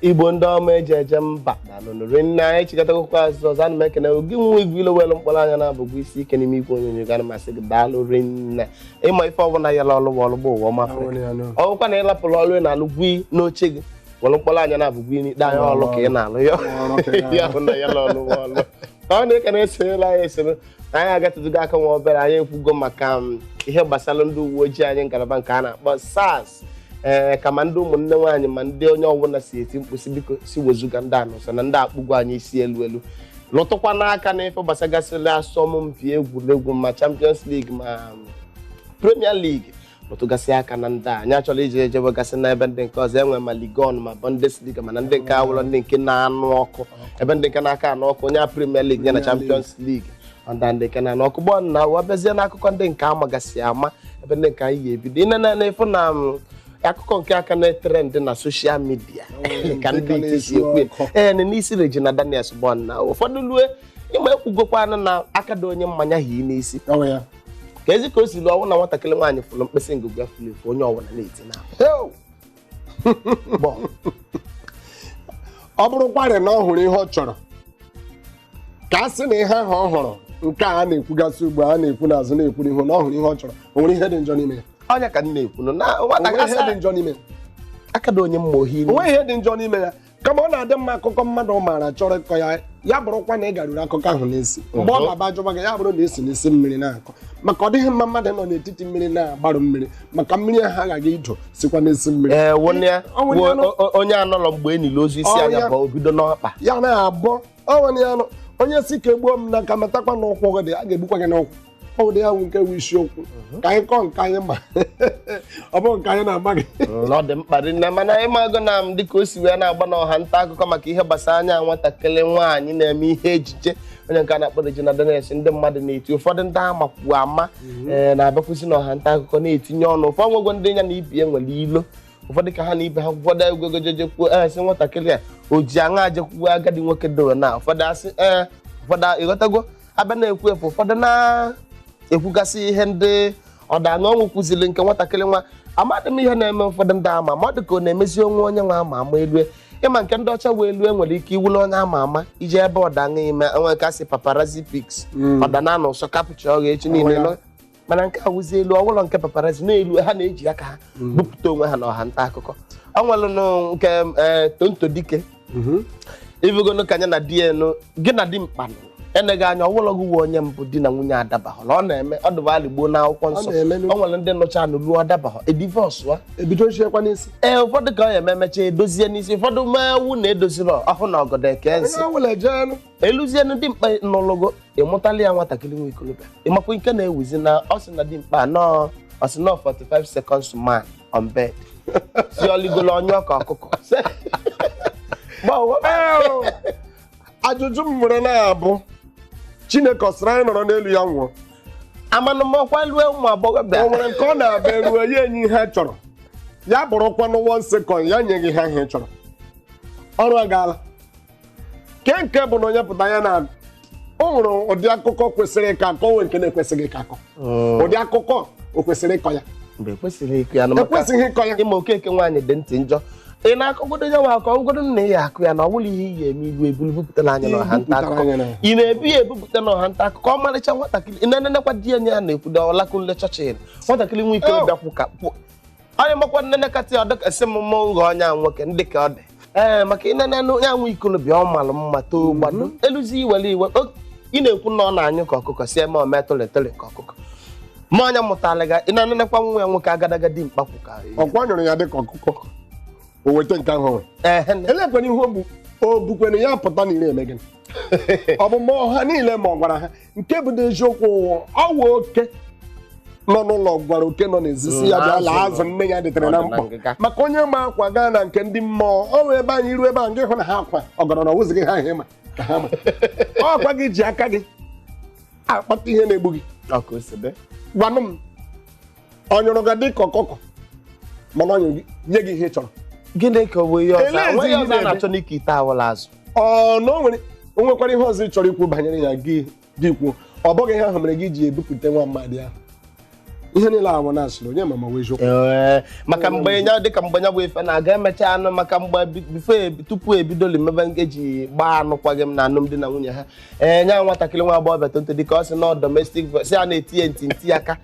igbo ndị ọma eji eje mba daalụnụ rinne anyị chịkọtakwa azụ ọzọ ana m ekene gị nwa igwe ilo welu mkpụrụ anya na abụgwụ isi ike n'ime igwe onyonyo ga masị gị daalụ rinne ịma ife ọbụla ya la ọlụwa ọlụgba ụwa ọma ọ bụkwa na ị lapụrụ ọlụ ị na-alụ gwi n'oche gị welu mkpụrụ anya na abụgwụ iri anya ọlụ ka ị na-alụ ya ya bụ na ya la ọlụwa ọlụ ọ na-ekene esonyela anyị esoro na anyị agatụtụgo aka nwa obere anyị ekwugo maka um, ihe gbasara ndị uwe ojii anyị ngalaba nke a na-akpọ SARS ee ka ma ndị ụmụnne nwaanyị ma ndị onye ọbụla si eti mkpu sị biko sị wezuga ndị a n'ụsọ na ndị a akpụgo anyị isi elu elu lụtụkwanụ aka na ife gbasagasịrị asọmpi egwuregwu ma Champions League ma um, Premier League rụtụgasị aka na ndị a anyị achọrọ iji ejebe gasị na ebe ndị nke ọzọ enwe ma ligue 1 ma bundesliga mana ndị nke awụrọ ndị nke na-anụ ọkụ ebe ndị nke na-aka anụ ọkụ onye a premier league ya na champions league ọ ndị a ndị nke na-anụ ọkụ gbọ na ụwa bịazie n'akụkọ ndị nke a magasị ama ebe ndị nke anyị ga-ebido ine na na ịfụ na mm, akụkọ nke a ka na-e trend na social media ka ndị iti si ekwu ya. ee na n'isi regina daniels gbọ na ụfọdụ lue ịma ekwugokwanụ na aka dị onye mma ya hi n'isi Ọ bụ ya. ka ezi ka o si luo ọ wụ na nwatakịrị nwaanyị fụrụ mkpịsị ngụgụ ya furu efu onye ọbụla na-eti na Heo! Bọ. ọ bụrụkwarị na ọ hụrụ ihe ọ chọrọ ka a sị na ihe ahụ ọ hụrụ nke a na-ekwugasị ugbu a na-ekwu n'azụ na-ekwu n'ihu na ọ hụrụ ihe ọ chọrọ o nwere ihe dị njọ n'ime ya ọ nya ka m na-ekwu na o nwere nwatakịrị ihe dị njọ n'ime ya aka dị onye mma o hi o nweghị ihe dị njọ n'ime ya kama ọ na-adị mma akụkọ mmadụ maara chọrọ ịkọ ya ya bụrụkwa na ị garuru akụkọ ahụ n'isi mgbe ọ mhm. na-abụ a jụba gị ya bụrụ na e si n'isi mmiri na-akọ maka ọ dịghị mma mmadụ nọ n'etiti mmiri na-agbarụ mmiri maka mmiri ahụ agaghị ido sikwa n'isi mmiri eh, onye anọrọ mgbe e nili ozu isi anya bụ o bido n'ọkpa ya na-abọ o nwere ya nụ onye sị ka e gbuo m n'aka matakwa na ụkwụ gị dị a ga-egbukwa gị n'ụkwụ ọ bụ dị ya nwe nke bụ isiokwu ka anyị kọọ nke anyị ma ọ bụghị nke anyị na-ama gị na ọ dị mkpa rinne mana ị mago na m dịka o si wee na-agba n'ọha nta akụkọ maka ihe gbasara nya nwatakịrị nwaanyị na-eme ihe ejije onye nke a na-akpọ Regina Daniels ndị mmadụ na-eti ụfọdụ ndị a makwu ama ee na-abịakwụsị n'ọha nta akụkọ na-etinye ọnụ ụfọdụ nwego ndị ya na ibe ya nwere ilo ụfọdụ ka ha na ibe ha kwado egwego jejekwuo ee sị nwatakịrị a o ji aṅaa jekwuo agadi nwoke dowe na ụfọdụ asị ee ụfọdụ ịghọtago abịa na-ekwu efu ụfọdụ na-ekwugasị ihe ndị ọda na ọnwụ kwụziri nke nwatakịrị nwa amadị m ihe na-eme ụfọdụ ndị ama ma ọ dị ka ọ na-emezi onwe onye nwa ama ama elue ịma nke ndị ọcha wee elue nwere ike iwule onye ama ama ije ebe ọda aṅa ime enwe nke a sị paparazzi pics ọda na anọ ụsọ capture ọgha echi niile mana nke a wụzi elu ọ wụlọ nke paparazzi na-elu ha na-eji aka ha mm. bupụta onwe ha na ọha nta akụkọ ọ nwelụnụ nke e, tonto dike mm-hmm. ị vụgonu ka nya na di enu gị na dimkpa eneghị anya ọ wụlọ gị wụ onye mbụ di na nwunye adabahụ na ọ na-eme ọ dịbalị gboo na akwụkwọ nsọ ọ nwere ndị nụcha anụ luo adabahụ e divorce-ụa e bidochiekwa n'isi ee ụfọdụ ka ọ ya ememecha edozie n'isi ụfọdụ mewu na edoziri ọhụụ na ọgọdọ eke nsị e luzie nu dimkpa nọlụgo ị mụtala ya nwatakịrị nwa ikolobịa ị makwa nke na-ewuzi na ọ sị na dimkpa nọọ ọ sị nọọ 45 seconds man on bed sị ọ ligolo ọ nyụọ ka ọkụkọ gbawo ajụjụ m nwere na-abụ chineke ọ sịrị anyị nọrọ n'elu ya nwụọ amanụ m ọkwa lue ụmụ agbọghọbịa o nwere nke ọ na-abụ e ruo ya enye ihe a chọrọ ya bụrụkwanụ one second ya nye gị ha ihe ị chọrọ ọrụ agaala nke nke bụ na onye pụta ya na o nwere ụdị akụkọ kwesịrị ịkọ akọ nwee nke na-ekwesịghị ịkọ akọ ụdị akụkọ o kwesịrị ịkọ ya mgbe ekwesịghị ịkọ ya na maka ekwesịghị ịkọ ya ị ma okeke nwaanyị dị ntị njọ ị na-akọgodo ya nwa akọ ọ wụgodo na ị ya-akọ ya na ọ bụlọ ihe ị ya-eme ibu ebulu bupụtara nya na ọha nta akụkọ ị na-ebu ya ebupụta na ọha nta akụkọ ọmarịcha nwatakịrị ị na-enenekwa di ya nya na-ekwudo olakunle churchill nwatakịrị nwoke bịakwu ka onye makwa m nenekata ọ dịka sị m mma ụghọ onye a nwoke ndị ka ọ dị ee maka ị nenenụ ya nwa ikolobịa ọ malụ mma too gbado eluzi i were iwe o- ị na-ekwu na ọ na-anyụ ka ọkụkọ si eme ome tole tole ka ọkụkọ ma onye mụtara ga ị na-enenekwa nwa ya nwoke agadaga dimkpa kwụ ka ọkwa nyụrụ ya dịka ọkụkọ o weta nke ahụ nwere ehe elekwana ihe o bu o bukwere ya pụta na ire eme gịnị ọ bụ mgbe ọha niile ma ọ gwara ha nke bụ n'eziokwu ọ wụ oke nọ n'ụlọ gwara oke nọ n'ezi sị ya Mm, bịa laa azụ azụ nne ya dịtere na Ọ dị na mkpọ ngịga. maka onye ma akwa gaa na nke ndị mmụọ ọ wee ebe anyị ruo ebe ahụ gị hụ na ha akwa ọgọrọ na ọ wụzighị ha ihe maka ha ma ọ kwa gị ji aka gị akpata ihe na-egbu gị Ọ ka o si dị. gwanụ m ọ nyụrụ gị dịka ọkụkọ mana ọ nyụrụ gị nye gị ihe ị chọrọ gịnị ka ọ bụ ihe ọzọ Elee enweghị ihe ọzọ a na-eme? na-achọ n'ike ite awụlọ azụ ọ na o nwere o nwekwara ihe ọzọ ị chọrọ ikwu banyere ya gị gị kwuo ọ bụghị ihe ahụ mere gị ji ebupụta nwa mmadụ ahụ ihe niile ahụ na asịrị onye ma ma ọ wụ eziokwu Ee, maka mgbe nya dịka mgbe nya bụ ife na-aga e mechaa nụ maka mgbe bi- before ebi- tupu ebidoli mebe nke e ji gbaa anụkwaghị m na alụmdi na nwunye ha ee nya nwatakịrị nwa agbọghọbịa tonto dike ọ sị na domestic violence ya na-eti ya ntị ntị aka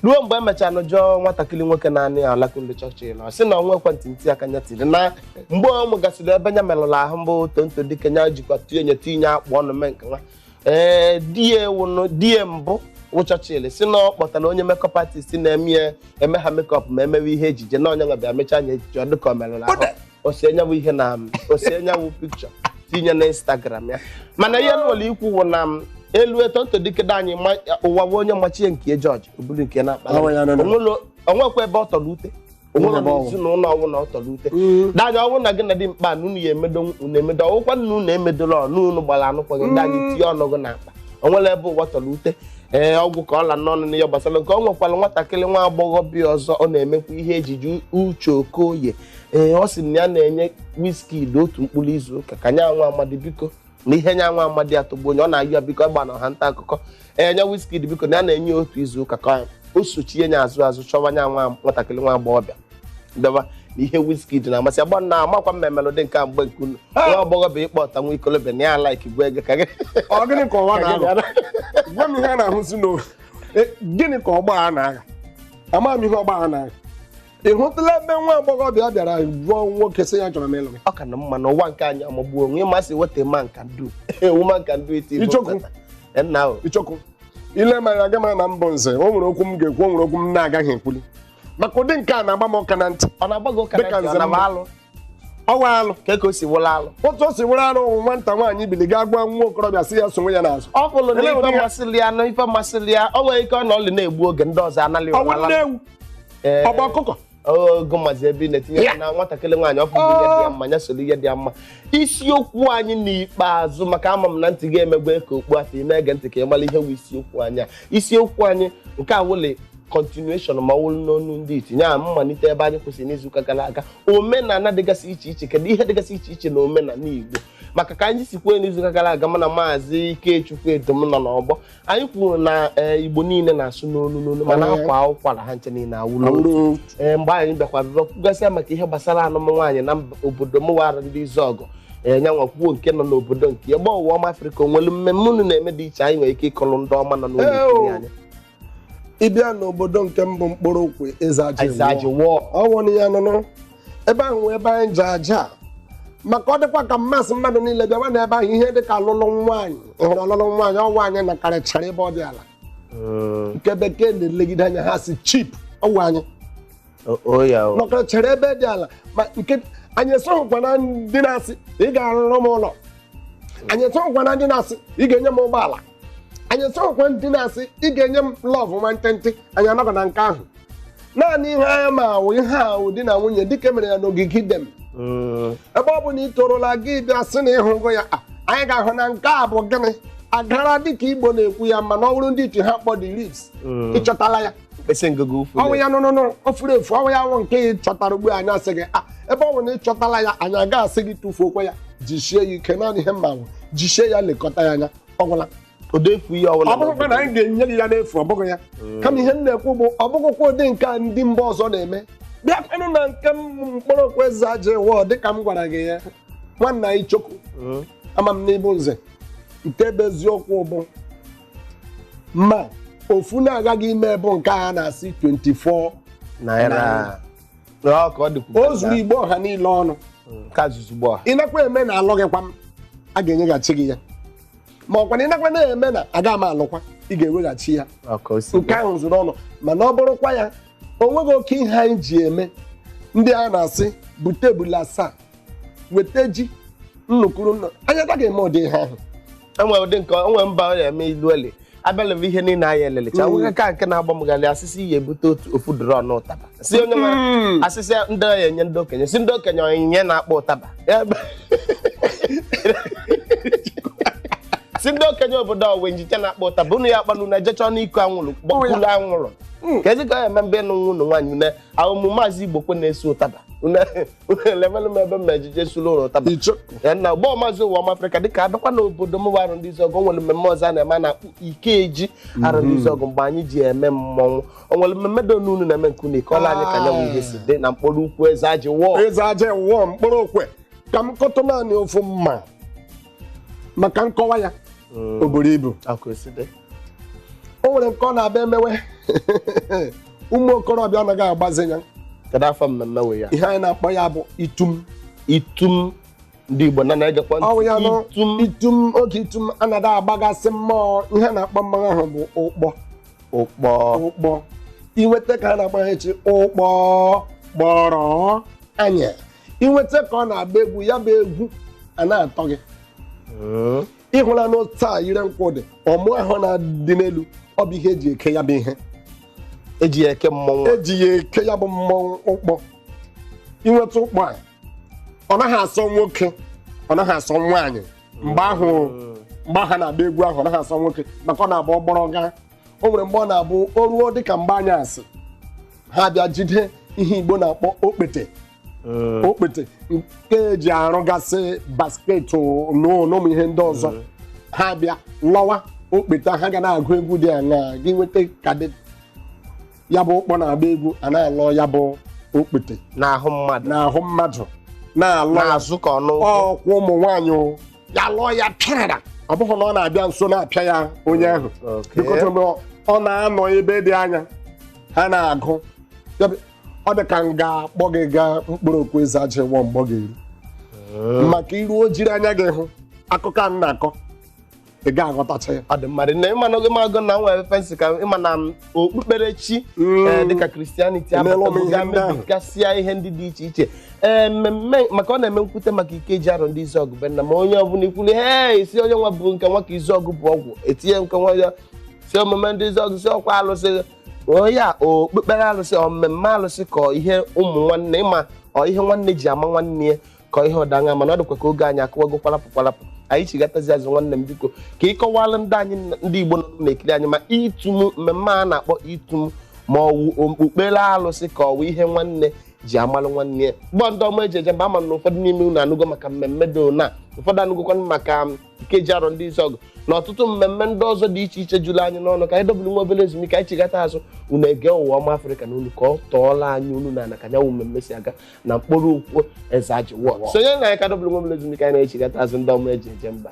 ruo mgbe emechaa nụ jụọ nwatakịrị nwoke na-anụ ya olakunle churchill na ọ sị na o nwekwa ntị ntị aka nya tiri na mgbe ọ mụgasịrị ebe nya merụrụ ahụ mbụ tonto dike nya jikwa tinye nye tinye akpụ ọnụ mee nke nwa ee di ya ewụnụ di ya mbụ wụ churchill sị na ọ kpọtara onye makeup artist na-eme ya eme ha makeup ma e mewe ihe ejije na onye nwa bịa mechaa nya ejije ọ dịka ọ merụrụ ahụ ose nyanwụ ihe na m ose nyanwụ picture tinye na instagram ya mana ihe nwere ikwu wụ na m elu Tonto Dikeh dị anyị ma- ụwa wụ onye machie nke jọji obulu nke na-akpala Ọnwa ya nọ na- Onwelo- onwekwa ebe ọ tọrọ ute onwere Onwere ọnwụ. ezinụlọ ọnwụ na ọ tọrọ ute daa nya ọnwụ na gị na di kpaa na unu ya emedo unu emedo ọ wụkwa na unu emedola ọnụ unu gbara anụkwaghị m dị anyị tinye ọnụ gị n'akpa onwere ebe ụwa tọrọ ute ee ọ gwụ ka ọ la n'ọnụ n'ihe gbasara nke ọ nwekwara nwatakịrị nwa agbọghọbịa ọzọ ọ na-emekwa ihe ejije Uche Okoye ee ọ sị na ya na-enye Wizkid otu mkpụrụ izu ụka ka nya nwa amadi biko na ihe nya nwa amadi atọgbuo nya ọ na-ayọ biko agba na ọha nta akụkọ ee nya Wizkid biko na ya na-enye ya otu izu ụka ka o sochie nya azụ azụ chọwa nya nwa nwatakịrị nwa agbọghọbịa bịawa na ihe Wizkid na-amasị agba na-amakwa mma melodi nke a mgbe nke unu nwa agbọghọbịa ịkpọta nwa ikolobịa na ya like gwa ego ka gị ọ gịnị ka ụwa na-aghọ gwa m ihe a na-ahụzi na e, gịnị ka ọgbọ a na-agha amaghị m ihe ọgbọ a na-agha ị hụtụla ebe nwa agbọghọbịa bịara jụọ nwoke sị ya chọrọ m ịlụ gị ọ ka na mma n'ụwa nke anyị amagbuo onwe maazị weta ma nka ndị ewu ma nka ndị iti bụ Ichoku. nkata. Eh, nna o ịchọkụ ile ma ya gama na mbụ nze o nwere okwu m ga-ekwu o nwere okwu m na-agaghị ekwuli maka ụdị nke a na-agba m ụka na ntị ọ na-agba gị ụka Dịka na ntị, nze ọ na-agba mma. alụ ọ wụ alụ ka ka o si wụlụ alụ otu o si wụrụ arụ ụmụ nwata nwaanyị bili gaa gwa nwa okorobịa sị ya sonwe ya n'azụ ọ bụrụ na Ele ife ụdị ya? masịrị ya na ife masịrị ya o nwere ike ọ nọlị na-egbu oge ndị ọzọ analị ọnwụ ụra nne ewu Ee, ọ gba ọkụkọ ogo maazị ebe ị na-etinye Ya. ya na nwatakịrị nwaanyị ọ fụrụ ihe dị ya mma ya soro ihe dị ya mma isiokwu anyị n'ikpeazụ maka ama m na ntị gị emegbe ka okpu afọ ị na-ege ntị ka ị mara ihe bụ isiokwu anyị a. isiokwu anyị nke a wụli continuation ma ọ wụrụ n'onu ndị iti ya mmalite ebe anyị kwụsịrị n'izuụka gara aga omenala dịgasị iche iche kedu ihe dịgasị iche iche na omenala Igbo maka ka anyị si kwuo n'izuụka gara aga mana maazị Ikechukwu Edom nọ n'ọgbọ anyị kwuru na eh, Igbo niile na-asụ n'olu n'olu mana Ee. a kwaa ụkwara ha ncha niile awụ n'olu Awụrụ ee mgbe anyị bịakwa bịa kwugasịa maka ihe gbasara anụm nwaanyị na mba- obodo mụwa Arọndizuọgụ ee nyanwa kwuo nke nọ n'obodo nke ebe ọwụwa Ọma Afrịka onwelu mmemme unu na-eme dị iche anyị nwere ike ịkọrọ ndị ọma nọ n'ụlọ Ee, ikiri o. anyị ị bịa n'obodo nke m bụ Nkpologwu eze Eze ajị ajị wụọ wụọ ọnwụ na ya nụnụ ebe ahụ wee ebe anyị ji aja a. maka ọ dịkwa ka m asị mmadụ niile bịawa na ebe ahụ ihe dịka alụlụ nwaanyị ị hụrụ ọlụlụ nwaanyị ọ wụ anyị nọkarịchara ebe ọ dị ala Mm, nke bekee na-elegide anya ha sị cheap ọ wụ anyị o- o ya o. nọkarịchara ebe dị ala ma nke anyị esoghịkwa na ndị na-asị ị ga-arụrụ m ụlọ anyị esoghịkwa na ndị na-asị ị ga-enye m ụgbọala anyị esoghịkwa ndị na-asị ị ga-enye m love nwantịntị anyị anọghị na nke ahụ naanị ihe anyị ma wụ ihe wụ di na nwunye dịka emere ya n'ogige Iden ebe ọ bụ na ị torola gị bịa sị na ịhụgo ya a, anyị ga-ahụ na nke a bụ gịnị agara dịka igbo na-ekwu ya mana ọ bụrụ ndị iti ha kpọ the ribs ịchọtala ya mkpịsị ngụgụ ụfụ ọ wụ ya nụnụnụ o furu efu ọ wụ ya wụ nke ị chọtara ugbu a, anyị asị gị a ebe ọ bụ na ị chọtala ya anyị aga asị gị tụfuokwa ya jisie ya ike naanị ihe m ma bụ jisie ya lekọta ya anya ọ gwụla odefu ihe ọbụla ọ bụrụkwa na anyị ga-enye gị ya n'efu ọ bụghị ya hmm. kama ihe m na-ekwu bụ ọ bụghịkwa ụdị nke a ndị mba ọzọ na-eme bịakwanụ na nke Nkporo ukwu eze aja Iwo dịka m gwara gị ya nwanna anyị Ichoku hmm. ama m na ị bụ nze nke bụ eziokwu bụ ma ofu na-agaghị ime bụ nke a na-asị 24 naira Ọ ka ọ dịkwu. o zuru igbo ọha niile ọnụ ka zuru igbo ọha. ị nakwa eme na alụghịkwa m a ga-enyeghachi gị ya ma ọkwa na ị nakwa na-eme na aga m alụkwa ị ga-eweghachi ya Ọ ka o si nke ahụ zuru ọnụ mana ọ bụrụkwa ya o nweghị oke ihe anyị ji eme ndị a na-asị bute ebula asaa weta ji nnụ kwu nnụ anyị agaghị eme ụdị ihe ahụ e nwe ụdị nke o nwe mba ọ na-eme ilu ele abịalebe ihe niile anyị elelecha Mm. nwoke ka nke na-agba m ghalị a sị sị ị ya-ebute otu ofu drum ụtaba si onye nwere Mm. a sị sị ndị ọ ya-enye ndị okenye si ndị okenye onyinye na-akpọ ụtaba Ya bụ- si ndị okenye obodo ọ wa ncha na-akpọ ụtaba unu ya kpanụ na ejechọ n'iko anwụrụ gbakulu anwụrụ Mm. ka ezi ka ọ ya eme mbe nụ nwụnụ nwaanyị unu ahụ mụ maazị Igbokwe n'isi ụtaba Une- levelụ m ebe m ejije sulu ụlọ ụtaba icho Ya na gbọọ maazị Ụwaọma afrịka dịka abịakwa n'obodo m bụ Arọndizuọgụ o nwere mmemme ọzọ a na-eme a na-akpọ ikeji Arọndizuọgụ mgbe anyị ji eme mmọnwụ o nwere mmemme dịnụ unu na-eme nke unu ị kọọla anyị ka nya wụ ihe si dị na Nkporo ukwu eze aja Iwo eze aja Iwo Nkporo Okwe ka m kọtụ naanị ofu mma maka nkọwa ya o buru ibu ọ ka o si dị o nwere nke ọ na-abịa emewe ụmụ okorobịa ọ naghị agbazi ya kedu afọ mmemme wee ya ihe anyị na-akpọ ya bụ itum itum ndị igbo na na-egekwa ntị. ọ wụ ya nụ itum itum oge itum anaghị agbagasị mmụọ ihe a na-akpọ mmanwụ ahụ bụ ụkpọ ụkpọ ụkpọ i nweta ka a na-akpọ ya echi ụkpọ gbọrọ anya i nweta ka ọ na-agba egwu ya bụ egwu a na-atọ gị Mm. ị hụlanụ otu a ire nkwụ dị ọmụ ahụ na-adị n'elu ọ bụ ihe eji eke ya bụ ihe eji ya eke mmọnwụ eji ya eke ya bụ mmọnwụ ụkpọ i nweta ụkpọ a ọ naghị asọ nwoke ọ naghị asọ nwaanyị mgbe ahụ mgbe ha na-agba egwu ahụ ọ naghị asọ nwoke maka ọ na-agba ọgbọrọ gaa o nwere mgbe ọ na-abụ o ruo dịka mgbe anyasị ha bịa jide ihe igbo na-akpọ okpete okpete nke eji arụgasị basket na ụmụ ihe ndị ọzọ ha bịa lọwa okpete ha ga na-agụ egwu dị aṅaa gị nweta ka dị ya bụ ụkpọ na-agba egwu a na-alọ ya bụ okpete n'ahụ mmadụ n'ahụ mmadụ na-alọ ya n'azụ ka ọnụ ụkwụ ọkwa ụmụ nwaanyị o ya lọọ ya pịara ọ bụghị na ọ na-abịa nso na-apịa ya onye ahụ Okay. bikote mgbe ọ- ọ na-anọ ebe dị anya ha na-agụ Ya bụ, ọ dị ka m ga-akpọ gị gaa mkpọrọgwụ eze ajịwo mgbe ọ ga-eru maka i ruo jiri anya gị hụ akụkọ a m na-akọ ị ga aghọtacha ya ọ dị mmadụ na ị ma na oge magụ na nwere fensị ka ị ma na okpukperechi Mm. eh, dịka Christianity Emeela m ihe ndị ahụ. abatasịa ihe ndị dị iche iche ee mmemme maka ọ na-eme m kwute maka ikeji arọndịzuọgụ be nna ma onye ọbụla i kwuli he isi onye nwa bụ nke nwa ka izuọgụ bụ ọgwụ e tinye nke nwa ya sị omume ndị izuọgụ sị ọkwa alụsị onye a okpukpere alụsị ọ mmemme alụsị ka ọ ihe ụmụ nwanne ị ma ọ ihe nwanne ji ama nwanne ya ka ọ ihe dị aṅaa mana ọ dịkwa ka oge anyị akụwago kwarapụ kwarapụ anyị chigatazi azụ nwanne m biko ka ị kọwala ndị anyị ndị igbo nọ na-ekiri anyị ma ịtụm mmemme a na-akpọ ịtụm ma ọ wụ okpukpere alụsị ka ọ wụ ihe nwanne ji amalụ nwanne ya gbọ ndị ọma e ji eje mba ama m na ụfọdụ n'ime unu anụgo maka mmemme dị ona ụfọdụ anụgokwa maka ikeji arọndịzuọgụ na ọtụtụ mmemme ndị ọzọ dị iche iche juru anyị n'ọnụ ka anyị dobụrụ nwa obere ezumike anyị chigata azụ unu ege ụwa ọma afrịka na unu ka ọ tọọla anyị unu na ana ka nya wụ mmemme si aga na mkpọrọgwụ eze ajịwo sonye na anyị ka dọbụrụ nwa obere ezumike anyị na-echigata azụ ndị ọma e ji eje mba